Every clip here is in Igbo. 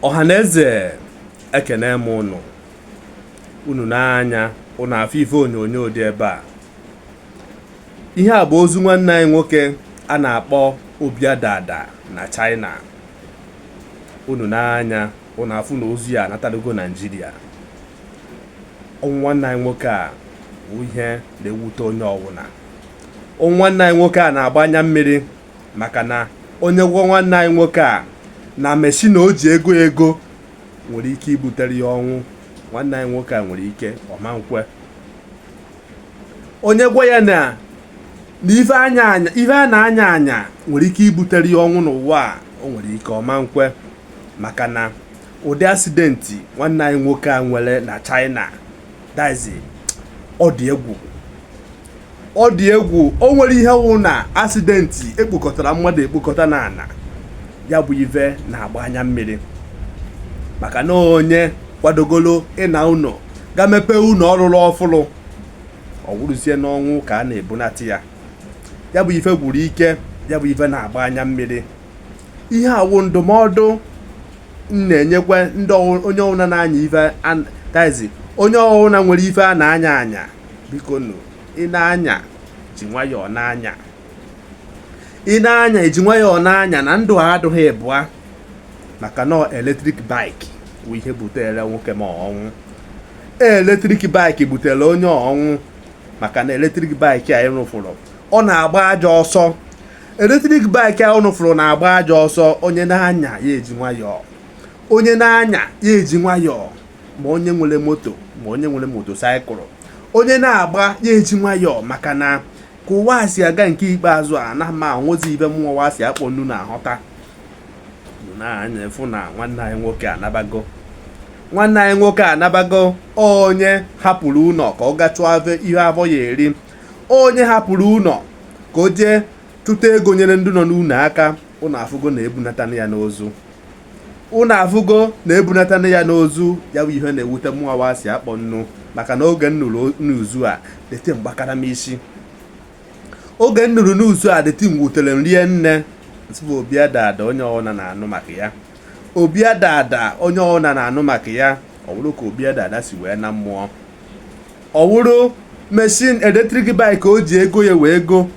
ọhaneze ekene m unu unu n'anya unu afụ ife onyonyo dị ebe a ihe a bụ ozu nwanne anyị nwoke a na-akpọ Obi Adada na China unu n'anya unu afụ na ozu ya anatalugo Naijiria ọnwụ nwanne anyị nwoke a bụ ihe na-ewute onye ọwụna ọnwụ nwanne anyị nwoke a na-agba anya mmiri maka na onye gwa nwanne anyị nwoke a na meshini o ji ego ego nwere ike ibutere ya ọnwụ nwanne anyị nwoke a nwere ike ọ ma nkwe onye gwa ya na na ife a na ife a na-anya anya nwere ike ibutere ya ọnwụ n'ụwa a o nwere ike ọ ma nkwe maka na ụdị asidenti nwanne anyị nwoke a nwere na China that is ọ dị egwu ọ dị egwu o nwere ihe wụ na asidenti ekpokọtara mmadụ ekpokọta n'ana ya bụ ive na-agba anya mmiri maka na onye kwadogolo ịna ụnọ ga mepee ụnọ ọ rụrụ ọfụrụ ọ wụrụzie n'ọnwụ ka a na-ebunata ya ya bụ ife gwuru ike ya bụ ife na-agba anya mmiri ihe a wụ ndụmọdụ m na-enyekwa ndị ọwụ- onye ọwụla na-anya ife an- that is onye ọwụla nwere ife a na-anya anya bikonụ ị na-anya ji nwayọọ na-anya ị na-anya ji nwayọọ na-anya na ndụ a adụghị ịbụa maka na electric bike bụ ihe butere nwoke m a ọnwụ electric bike butere onye ọnwụ maka na electric bike a unu fụrụ ọ na-agba ajọ ọsọ electric bike a unu fụrụ na-agba ajọ ọsọ onye na-anya ya eji nwayọọ onye na-anya ya eji nwayọọ ma onye nwere moto ma onye nwere motosaịkụl onye na-agba ya eji nwayọọ maka na ka ụwa si aga nke ikpeazụ a na amahọzi ive mụwa wa si akpọ nnu na-ahọta n'anya afụ na nwanne anyị nwoke anabago nwanne anyị nwoke anabago onye hapụrụ ụlọ ka ọ ga chụọ ihe afọ ya eri onye hapụrụ ụlọ ka o jee tụta ego nyere ndị nọ n'ụlọ aka unu afụgo na ebunata ya n'ozu unu afụgo na ebunata ya n'ozu ya bụ ihe na-ewute mụnwa wa si akpọ nnu maka na oge m nụrụ news a the thing gbakara m isi oge m nụrụ news a the thing wutere m rinne m sị bụ Obi Adada onye ọwụna na-anụ maka ya Obi Adada onye ọwụna na-anụ maka ya ọ bụrụ ka Obi Adada si wee naa mmụọ ọ wụrụ machine electric bike o ji ego ya wee go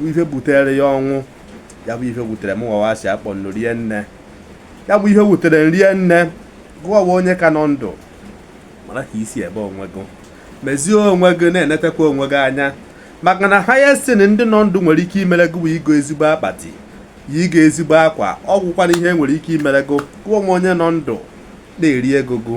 ihe butere ya ọnwụ ya bụ ihe wutere m nwawa si akpọ nnu rie nne ya bụ ihe wutere m rie nne gụwa wụ onye ka nọ ndụ mara ka i si eme onwe gị mezie onwe gị na-enetekwa onwe gị anya maka na highest thing ndị nọ ndụ nwere ike imere gị bụ igo ezigbo akpati ya igo ezigbo akwa ọ gwụkwana ihe e nwere ike imere gị gụwa wụ onye nọ ndụ na-eri ego gụ